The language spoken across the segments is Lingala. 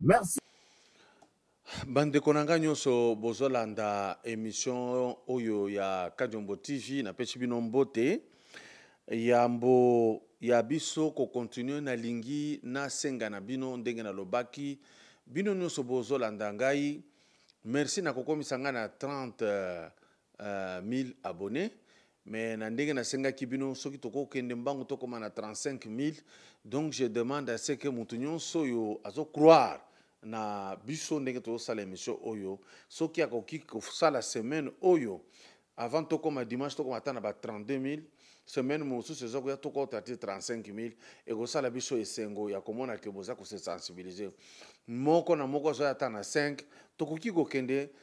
merci bandeko na ngai nyonso bozolanda emission oyo ya kadiombo tv napesi bino mbote yambo ya biso kokontinue nalingi nasenga na bino ndenge nalobaki bino nyonso bozolanda ngai merci na kokomisa ngai na 30 1000 abonnes mais na ndenge nasengaki bino soki tokokende mbangu tokoma na 35000 donc je demande à ce que moto nyonso oyo azocroire na biso ndenge tozosala émission oyo soki akoki kosala semaine oyo avant tokoma dimanche tokoma ata na ba 32000 semaine mosusu eza koya tokota te 35000 ekosala biso esengo ya komona ke boza kosesensibilize moko na moko azwai ata na 5 tokoki kokende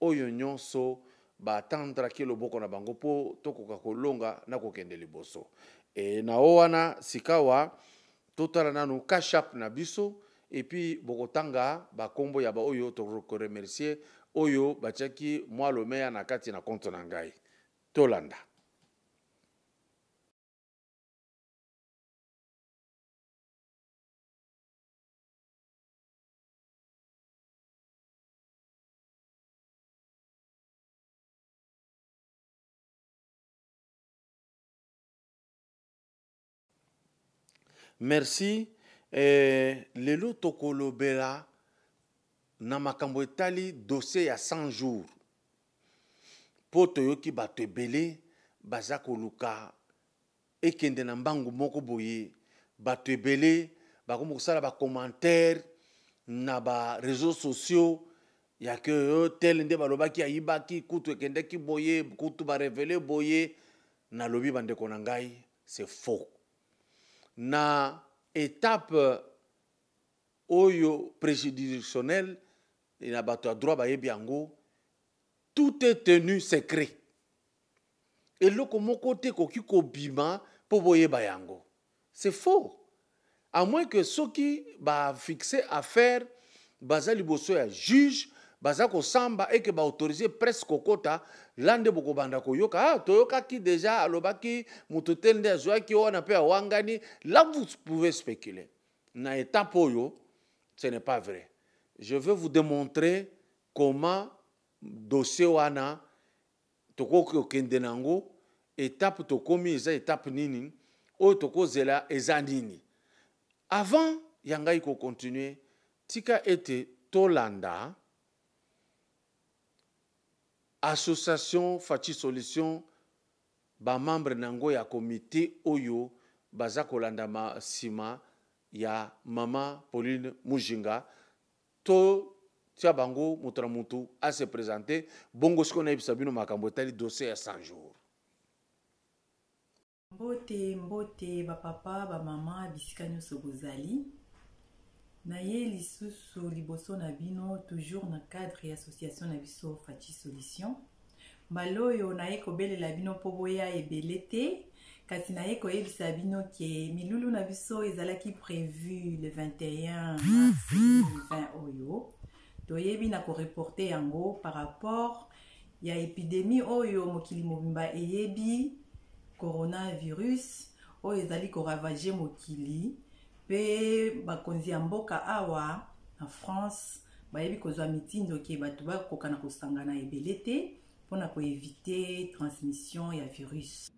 Oyo nyonso ba tendraki loboko na bango mpo tokoka kolonga na kokende liboso. E, na o wana sikawa totala nanu cash app na biso et puis bokotanga ba kombo ya ba oyo toko remercier oyo batiaki mwa lomeya na kati na compte na ngai. Tolanda. merci eh, lelo tokolobela na makambo etali dossier ya 100 jours mpo toyoki bato ebele baza koluka ekende na mbangu moko boye bato ebele bakomi kosala bacommentaire na bareseau sociaux ya ke euh, tele nde balobaki ayibaki kutu ekendeki boye kutu barevele boye nalobi bandeko na ngai c'est faux na etape oyo préjudictionnel na bato ya droit bayebi yango tout est tenu secret eloko moko te ekoki kobima mpo boyeba yango c'est faux à moins que soki bafixe affaire baza liboso ya juge baza kosamba eke baautorise presse kokota la nde bokobanda koyoka ah, toyokaki deja alobaki moto te nde azwaki wana mpe awangani la vous pouvez spéculer na étape oyo ce n'est pas vrai je veux vous démontrer comment dossier wana tokoki kokende na yango etape tokomi eza etape nini oyo tokozela eza nini avant ya ngai kokontinue tika ete tolanda association faci solution bamembre na yango ya komite oyo baza kolanda nsima ya mama pauline mujinga To tia bango moto na moto a se presenter bongo sikoyo nayebisa bino makambo etali dossier ya 100 jours. Mbote mbote bapapa bamama bisika nyonso bozali naye lisusu liboso na bino toujours na cadre ya association na biso faci solution Mbala oyo naye kobelela bino mpo boya ebele te kasi naye koyebisa bino ke milulu na biso ezalaki prevu le 21 mars 2020 oyo toyebi na koreporte yango par rapport ya epidemie oyo mokili mobimba eyebi coronavirus oyo ezali koravage mokili mpe bakonzi ya mboka awa na france Bayebi kozwa mitindo ke bato bakoka na kosangana ebele te mpo na koevite transmission ya virus.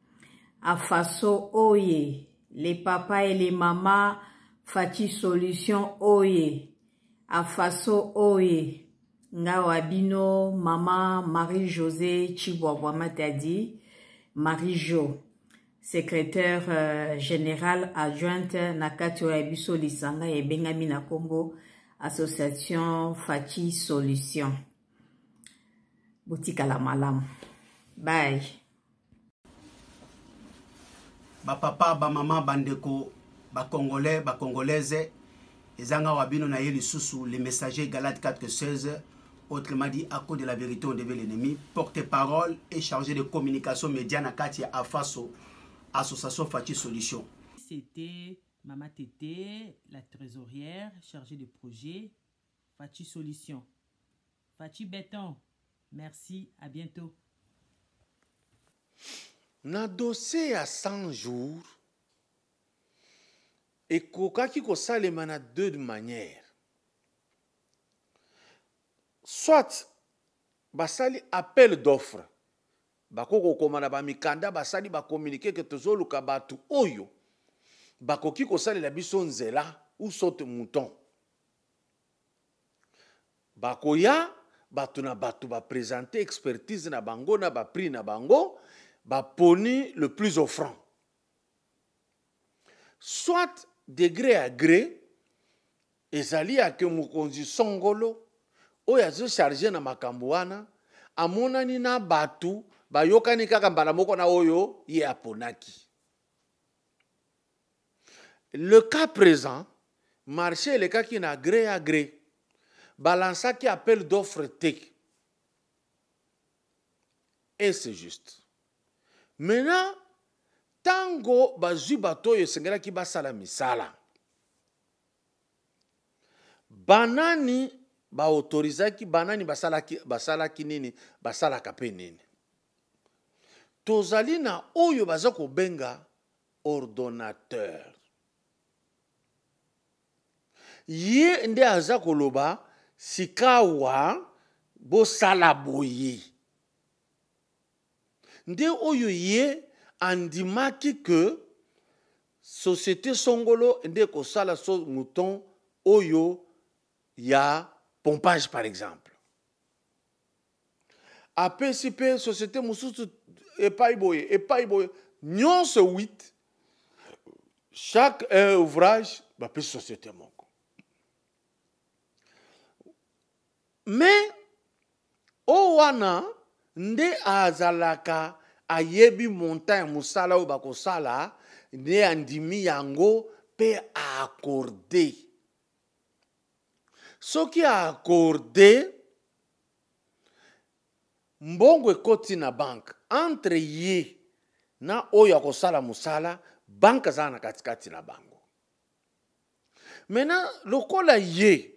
A faso oye, le papa et le mama Fatshi solution oye, a faso oye. Ngawa bino mama Marie-Josée Chibwabwa Matadi, Marie-Jo. secrétaire général adjointe na kati oyo ya biso lisanga ebengami na nkombo association faci solution botikala malamu bay bapapa bamama bandeko bacongolais bacongolaise Eza nga wa bino naye lisusu le messager Galate 4 que 16 autrement dit à cause de la verite on devait l'ennemi porte parole et charge de communication media na kati ya Afaso association Fatshi solution. C'était Mama Tete, la trésorière chargée de projet Fatshi solution. Fatshi béton. Merci, à bientôt. Na dossier à 100 jours ekokaki kosalema na deux manière soit basali appel d'offre bakoki kokoma na bamikanda basali bakominike ke tozoluka bato oyo bakoki kosalela biso nzela ou saute mouton bakoya bato na bato bapresente expertise na bango na baprix na bango baponi le plus offrant soit degre ya gre ezali ya ke mokonzi songolo oyo azocharge na makambo wana amonani na bato bayokani kaka mbala moko na oyo ye aponaki le cas présent marché elekaki na gre ya gre balansaki appel d'offre te et c'est juste maintenant ntango bazwi bato oyo esengelaki basala misala banani baautorizaki banani basalaki, basalaki nini basalaka mpe nini tozali na oyo baza kobenga ordonnateur ye nde aza koloba sikawa bosala boye nde oyo ye andimaki ke société songolo nde ekosala so mouton oyo ya pompage par exemple apesi mpe société mosusu epai boye epai boye nyonso 8 chaque euh, ouvrage bapesi société moko mais oyo wana nde azalaka ayebi montant ya mosala oyo bakosala nde andimi yango mpe aakorde soki a accorde mbongo ekoti na banke entre ye na oyo akosala mosala banke azala na katikati na bango maintenant lokola ye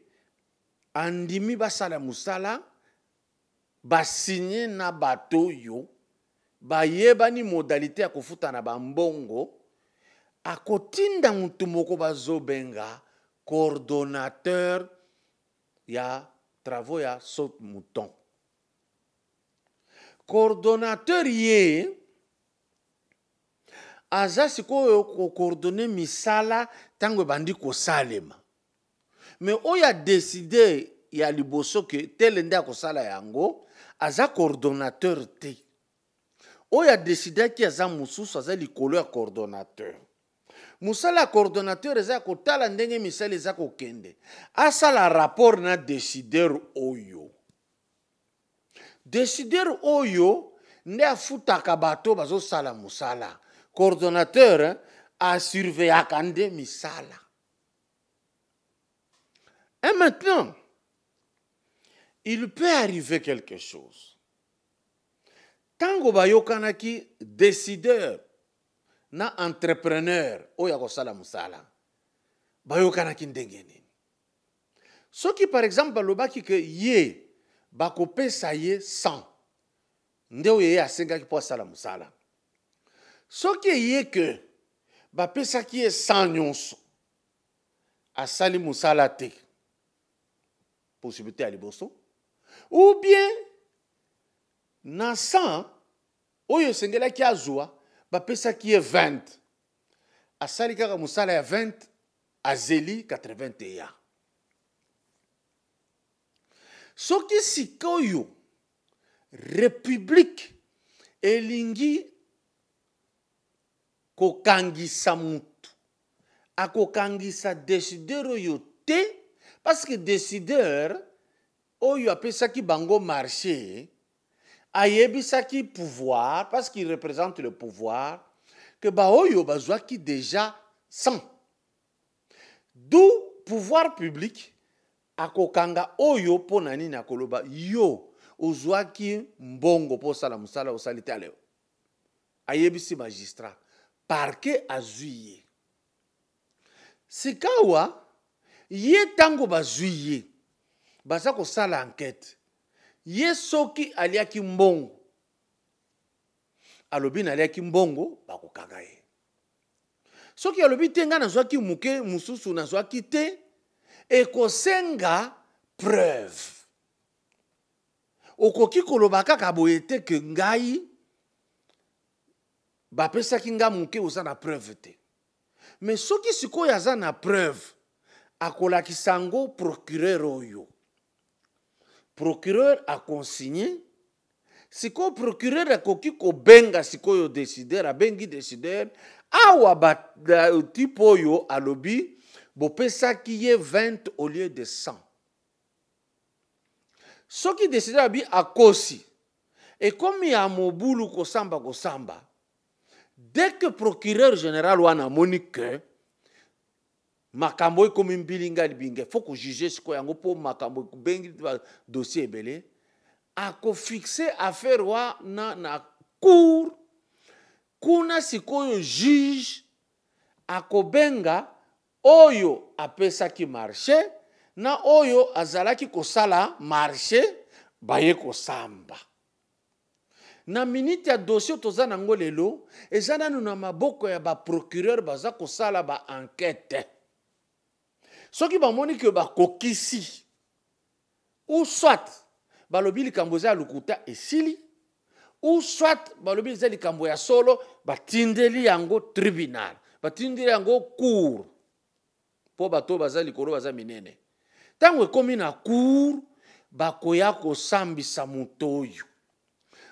andimi basala mosala ba signe na bato oyo bayebani modalite ya kofuta na bambongo akotinda motu moko bazobenga coordonnateur ya travaux ya saute mouton coordonnateur ye aza sikoyo kocoordonne misala ntango ebandi kosalema mais oyo adeside ya liboso ke tele nde akosala yango aza coordonnateur te oyo adesidaki aza mosusu aza likolo ya coordonnateur mosala ya coordonnateur eza ya kotala ndenge misala eza kokende asala rapport na desideur oyo desideur oyo nde afutaka bato bazosala mosala coordonnateur asurveyaka nde misala Et maintenant, il peut arriver quelque chose. Tango bayokanaki décideur na entrepreneur oyo akosala mosala bayokanaki ndenge nini soki par exemple balobaki ke ye bakopesa ye 100 nde oyo ye asengaki mpo asala mosala soki eye ke bapesaki ye sans nyonso asali mosala te possibilité ya liboso ou bien na 100 oyo esengelaki azwa bapesaki ye 20 asali kaka mosala ya 20 azeli 81 soki sikoyo Republique elingi kokangisa mutu akokangisa decideur oyo te parce que decideur oyo apesaki bango marché ayebisaki pouvoir parce qu'il représente le pouvoir que baoyo bazwaki déjà 100 D'où pouvoir public akokanga oyo mpo na nini akoloba yo ozwaki mbongo mpo osala mosala osali te aleo ayebisi magistrat parke azwi ye sikawa ye ntango bazwi ye baza kosala ankete ye soki aliaki mbongo alobi naliaki mbongo bakokanga ye soki alobi te ngai nazwaki moke mosusu nazwaki te ekosenga preuve okoki koloba kaka boye te ke ngai bapesaki ngai moke oza na preuve te me soki sikoyo aza na preuve akolakisa yango procureur oyo procureur aconsigne sikoyo procureur akoki kobenga sikoyo decideur abengi decideur awa type oyo alobi bopesaki ye 20 au lieu de 100 soki decideur abi akosi ekomi ya mobulu kosamba kosamba dès que procureur général wana amoni que makambo ekomi mbilinga libinga faut ko juger sikoyo yango mpo makambo ekubengi dossier ebele akofixe affaire wana na cour kuna sikoyo juge akobenga oyo apesaki marché na oyo azalaki kosala marché baye kosamba na minute ya dossier toza na yango lelo eza nanu na maboko ya baprocureur baza kosala baankete soki bamoni ke bakokisi ou soit balobi likambo eza ya lokuta esili ou soit balobi eza likambo ya solo batindeli yango tribunal batindeli yango cour mpo bato oyo baza likolo baza minene ntango ekomi na cour bakoya kosambisa moto oyo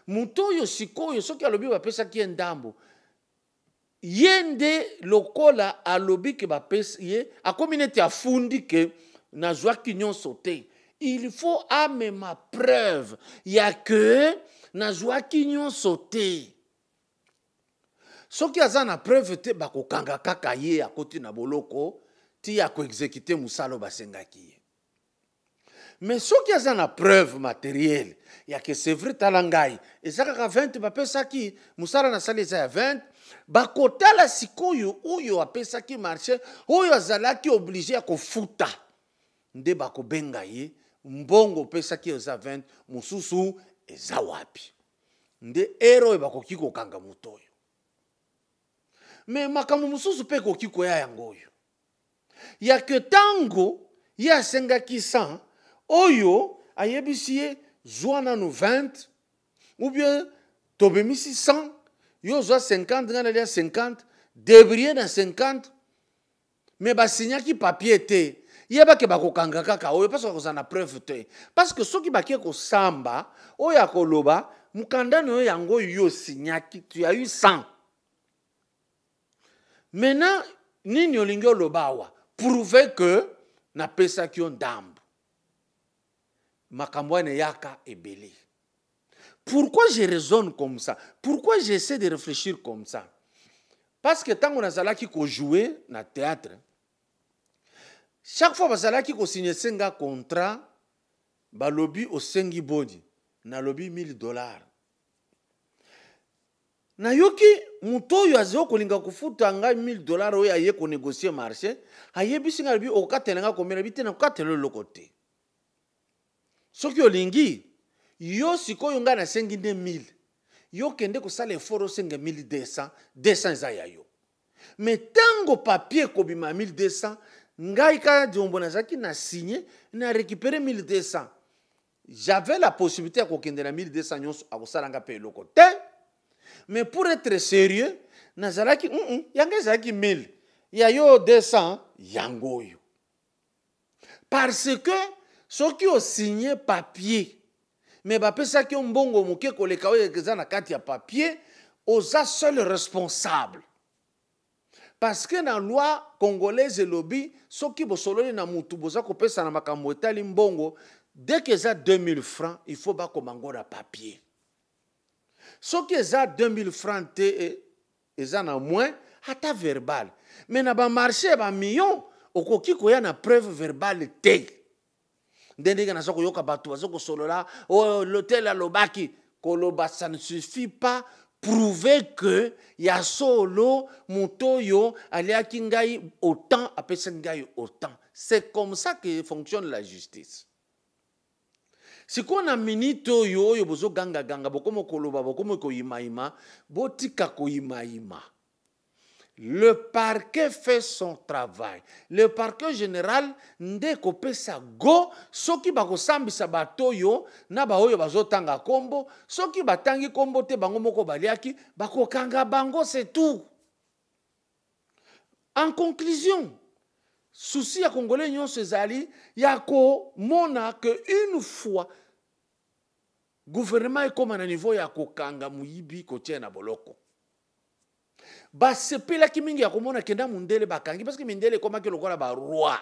moto oyo sikoyo soki alobi bapesaki ye ndambo ye nde lokola alobi ke bapesi ye akomi neti afundi ke nazwaki nyonso te il faut amema preuve ya ke nazwaki nyonso te soki aza na preuve te bakokanga kaka ye akoti na boloko ti ya koexekite mosala basengaki ye me soki aza na preuve materiele ya ke c'est vrai tala ngai eza kaka 20 bapesaki mosala nasali eza ya 20 bakotala sikoyo oyo apesaki marché oyo azalaki oblige ya kofuta nde bakobenga ye mbongo opesaki eza 20 mosusu eza wapi nde ere oyo bakoki kokanga moto oyo me makambo mosusu mpe ekoki koya yango oyo ya ke ntango ye asengaki 100 oyo ayebisi ye zwa nano 20 ou bien tobemisi 100 yo ozwa 50 ngai nalia 50 debrie na 50 me basinyaki papier te yeba ke bakokanga kaka oyo parce bakozala na preuve te parce que soki bake kosamba oyo akoloba mokanda na yo yango oyo yo osinyaki tu as eu 100 maintenant nini olingi oloba awa prouve ke napesaki yo ndambo makambo wana eyaka ebele pourquoi je raisonne comme ça pourquoi j'essaie de réfléchir comme ça parce que ntango nazalaki kojoue na théâtre chaque fois bazalaki kosignese nga contrat balobi osengi boni nalobi 1000 dollars nayoki moto oyo azali kolinga kofuta ngai 1000 dollar oyo aye konegocie marché ayebisi ngai alobi okatela ngai komela bi te nakatela eloko te soki olingi yo sikoyo ngai nasengi nde 1000 yo kende kosala effort osenga 1200 200 eza ya yo me ntango papier ekobima ya 1200 ngai kaka diombo nazalaki na signe na récupere 1200 j'avais la possibilité ya kokende na 1200 nyonso akosala ngai mpe eloko te mais pour être sérieux nazalaki mm -mm, yango ezalaki 1000 ya yo 200 yango oyo parce que soki osigne papier me bapesaki yo mbongo moke koleka oyo eza na kati ya papier oza seul responsable parce que na loi congolaise elobi soki bosololi na mutu boza kopesa na makambo etali mbongo dès que eza 2000 francs il faut bakoma ngo na papier soki eza 2000 francs te eh, eza na moins ata verbal mais na ba marché ya ba million okoki koya na preuve verbale te nde ndenge naza koyoka bato baza kosolola oyo oh, lotel alobaki koloba ça ne suffit pas prouve que ya solo moto oyo aliaki ngai autant apesaki ngai autant c'est comme ça que fonctionne la justice sikoyo na minite oyo oyo bozogangaganga bokomi koloba bokomi koyimayima botika koyimayima le parquet fait son travail le parquet général nde kopesa go soki bakosambisa bato oyo na baoyo bazotanga nkombo soki batangi nkombo te bango moko baliaki bakokanga bango se tout En conclusion, souci ya congolais nyonso ezali ya komona que une fois gouvernement ekóma na niveau ya kokanga moyibi kotia na boloko basepelaki mingi ya komona kenda mondele bakangi parce que mindele ekomaki lokola baroi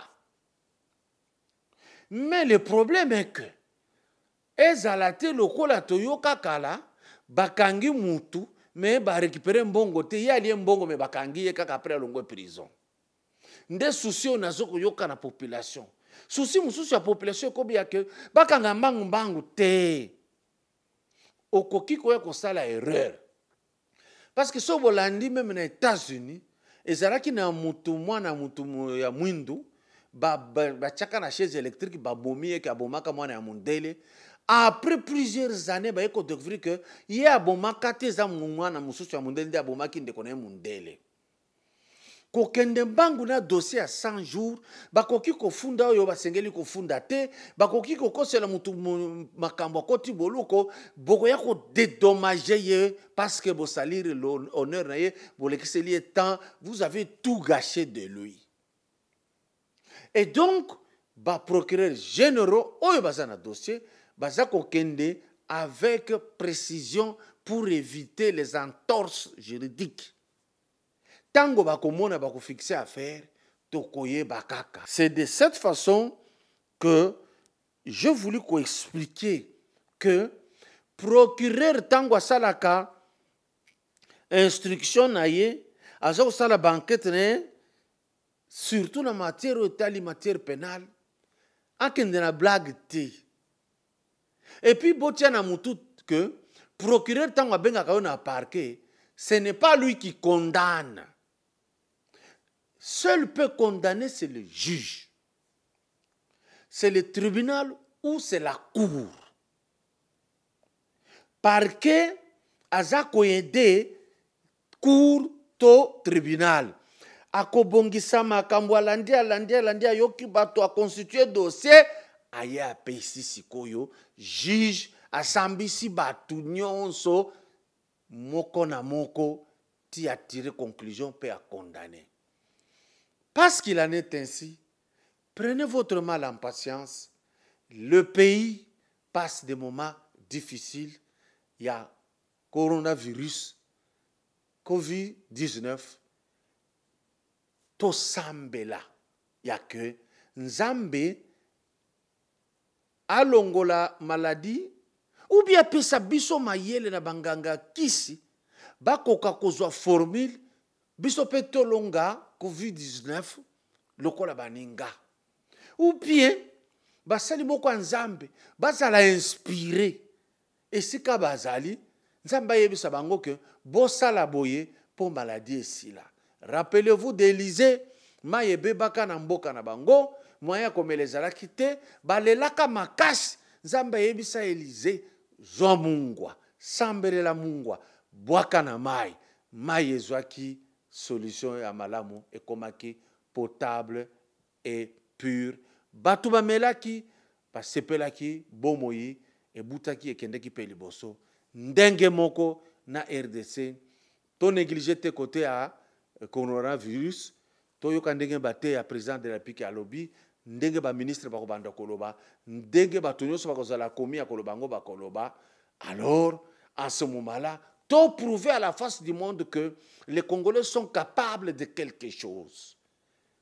mais le problème est que Ezala te lokola toyoka kala bakangi mutu mais ba recuperer mbongo te ye alie mbongo mais bakangi ye kaka après alongwe prison nde souci oyo nazo koyoka na population souci mosusu ya population ekobi ya ke bakanga mbangu mbangu te okoki koya kosala erreur parce que soki bolandi meme na états-unis ezalaki na mutu mwana mutu ya mwindu batiaka na chaise électrique babomi ye ke abomaka mwana ya mondele après plusieurs années baye kodécouvrir ke ye abomaka te eza mwana mosusu ya mondele nde abomaki ndeko na ye mondele kokende mbangu na dossier ya 100 jours bakoki kofunda oyo basengeli kofunda te bakoki kokosela motu makambo akoti boloko bokoya kodedommage ye parce que bosaliri honneur na ye bolekiseli ye temps vous avez tout gâché de lui et donc baprocureur généraux oyo baza na dossier baza kokende avec précision pour éviter les entorses juridiques Tango bakomona bakofixe affaire tokoyeba kaka. C'est de cette façon que je voulu koexpliquer que procureur ntango asalaka instruction na ye aza kosala bankete na ye surtout na matière oyo etali matière pénale akende na blague te et puis botia na mutu que procureur ntango abengaka yo na parquet ce n'est pas lui qui condamne seul peut condamner c'est le juge c'est le tribunal ou c'est la cour parquet aza koyede cour to tribunal akobongisa makambo alandi alandi alandi ayoki bato aconstitue dossier aye apesi sikoyo juge asambisi bato nyonso moko na moko ti atire conclusion mpe acondamne parce qu'il en est ainsi prenez votre mal en patience le pays passe des moments difficiles ya coronavirus covid 19 tosambela ya ke nzambe alongola maladi ubi apesa biso mayele na banganga ya kisi bakoka kozwa formule biso mpe tolonga covid-19 lokola baninga ou bien basali moko ya nzambe bazala inspire Esika bazali, Nzambe ayebisa bango que bosala boye mpo maladie esila. Rappelez-vous d'Elysee, mayi ebebaka na mboka na bango, moyen ya komela ezalaki te, balelaka makasi, Nzambe ayebisa Elysee, zwa mungwa, sambelela mungwa, bwaka na mayi. Mayi ezwaki solution ya malamu, ekomaki potable et pur bato bamelaki basepelaki bomoi ebutaki ekendeki mpe liboso ndenge moko na rdc to neglige te kote ya eh, coronavirus toyoka ndenge bateya président de la république alobi ndenge baministre bakobanda koloba ndenge bato nyonso bakozala komi ya koloba yango bakoloba alors en ce moment là to prouver à la face du monde que les congolais sont capables de quelque chose